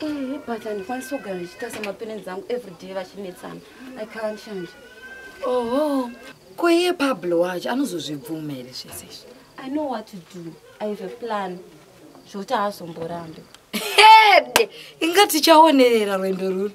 Eh, but handikwanisi kugara ndichiita semaparents angu everyday vachinetsana i can't change oho ko iye pablo wacho anozozvibvuma here zvese izvi i know what to do i have a plan zvokuti haazomborambe hede inga tichaonerera rwendo ruri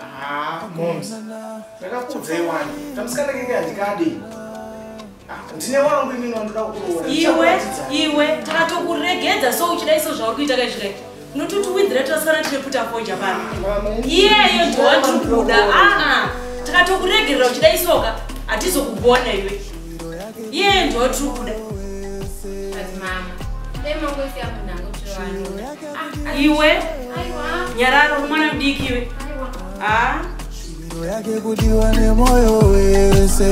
Ah, moms. Ndakakudzei wani. Kamusikana kenge handikadi. Ah, ndine wangu imini wandoda kukuroora. Iwe, iwe, takatokuregedza so uchida iso zvauri kuita kaizvire. Unototi windhira tasara tine puta foja pano. Iyeyo ndiwatiri kuda. Ah, ah. Takatokuregerera uchida isoka. Hatizokugona iwe. Iyeyo ndiwatiri kuda. But mama, dai mangoisiya munhu angotirwani. iwe nyararo mwana mudiki iwe shuviro yake kudiwa nemoyo wese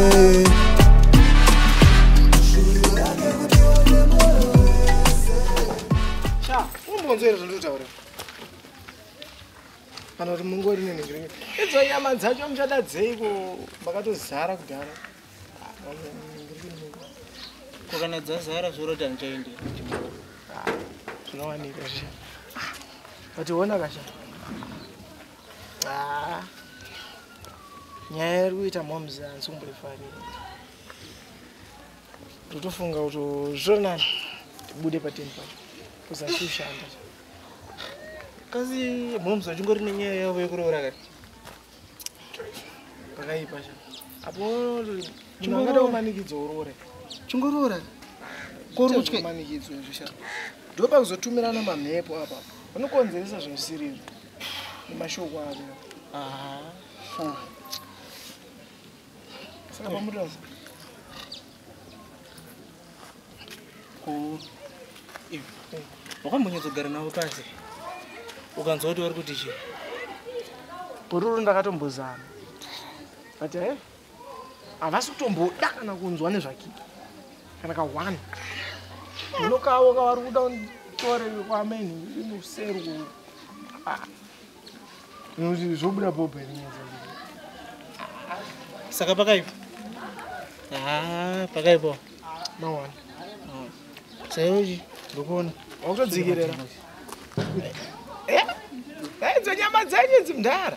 umbonzwere zvandotaura kana kuti mungori nenhengirenge idzo nyama dzacho muchada dzeiko makatozara kudhara ko kana dzazara zvorota ndichaende zvinowanika zvi vationa kasha ah. nyaya iri kuita moms hansi kumboifarira totofunga kuti zvonani tibude pateni pacho kuzasi ushanda kasi moms vachingori nenyaya yavo yekuroora kati pakaipa sha apo chingada kumanikidzo urore chingorora korutye kumanikidzo izvo sha ndopa kuzotumirana mamhepo apa unokonzeresa zvinosirira nemashoko ako saka pamutosa wakambonyatsogara navo pasi ukanzwa kuti vari kuti chii bururu ndakatombozama but e eh, havasi kutomboda kana kunzwa nezvakiki kana kahwani unokavo kavari kuda nditore kwameni imuseru ah. zvobuda bobo saka pakaipa pakaipa mawana sairochi ndokuona wakutodzikerera eh, eh, idzo nyama dzenyu dzimdhara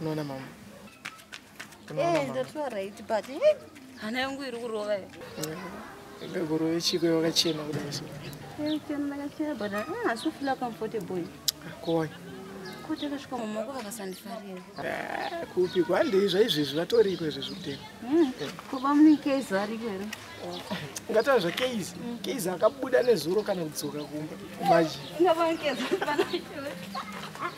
unoona mama eh, ndatoa right but eh, hana yangu iri kurova eh, ngakurove chiko yakachena kudai so ndakachena but ah, asi ufila comfortable akoi ko takasvika mama wako vakasandifarira ah, kupi kwandei zvaizvezvi vatori iko izvezvi kutema hmm, kuba mune kezi ariko here ngatava zva kezi hmm. kezi akabuda nezuro kana kudzoka kumba maji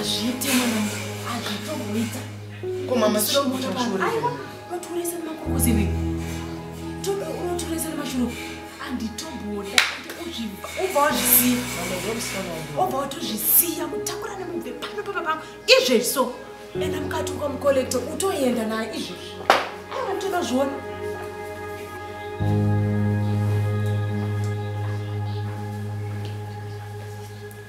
Azviite mwana azvitoita. Ko mama sio kuti mashuru. Aiwa unotoresa makukuzi iwe. Tobi unotoresa mashuru. Anditoboda uzviva ubva wazvisiya. Ubva watozvisiya kutakura nemubve pano papa pangu izvezvi so. Enda mukati ukamukolekta utoenda naye izvezvi. Aiwa unotoda zviona. Thank you.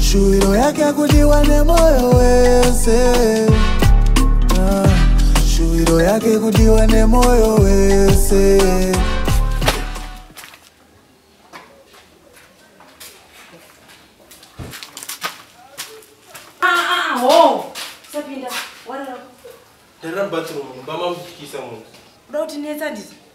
Shuviro yake kudiwa nemoyo wese ah, Shuviro yake kudiwa nemoyo wese Ndara bathroom, bama mujikisa munhu. Uda kuti netsa ndizo?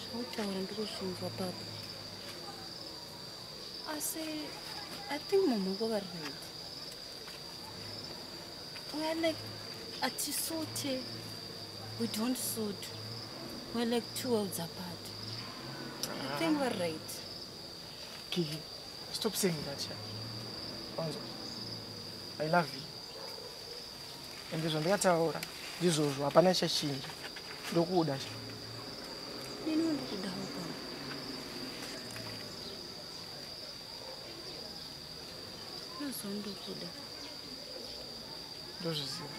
zvinotaura ndikuzvinzwa baba asi i think mamhoko vari right weare like atisute we don't suit weare like two worlds apart i think weare right kiki stop saying that ya wanzwa i love you ende zvandakataura ndizvozvo hapana chachinja ndokuda cha ndozviziva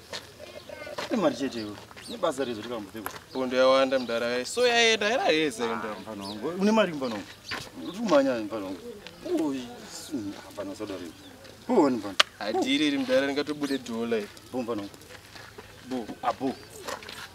imari chete iwe nebasa rezo tikambopfekwa pondo yawanda mudara yaye so yaenda era heza enda ah, mfana wangu une mari mfana wangu uri kumanya mfana wangu mfana usadaro iwe uoni mfana hadiriri mudara ringatobude dhola iwe bo mfana wangu bo abo ah,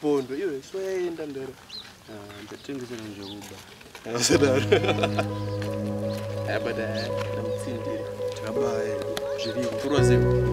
Pondo iwe soyaenda ndero. Ah, ndatengesera njokuba. Asadaro. Abada ndamutsindira. Abaya zviri kurwa zero.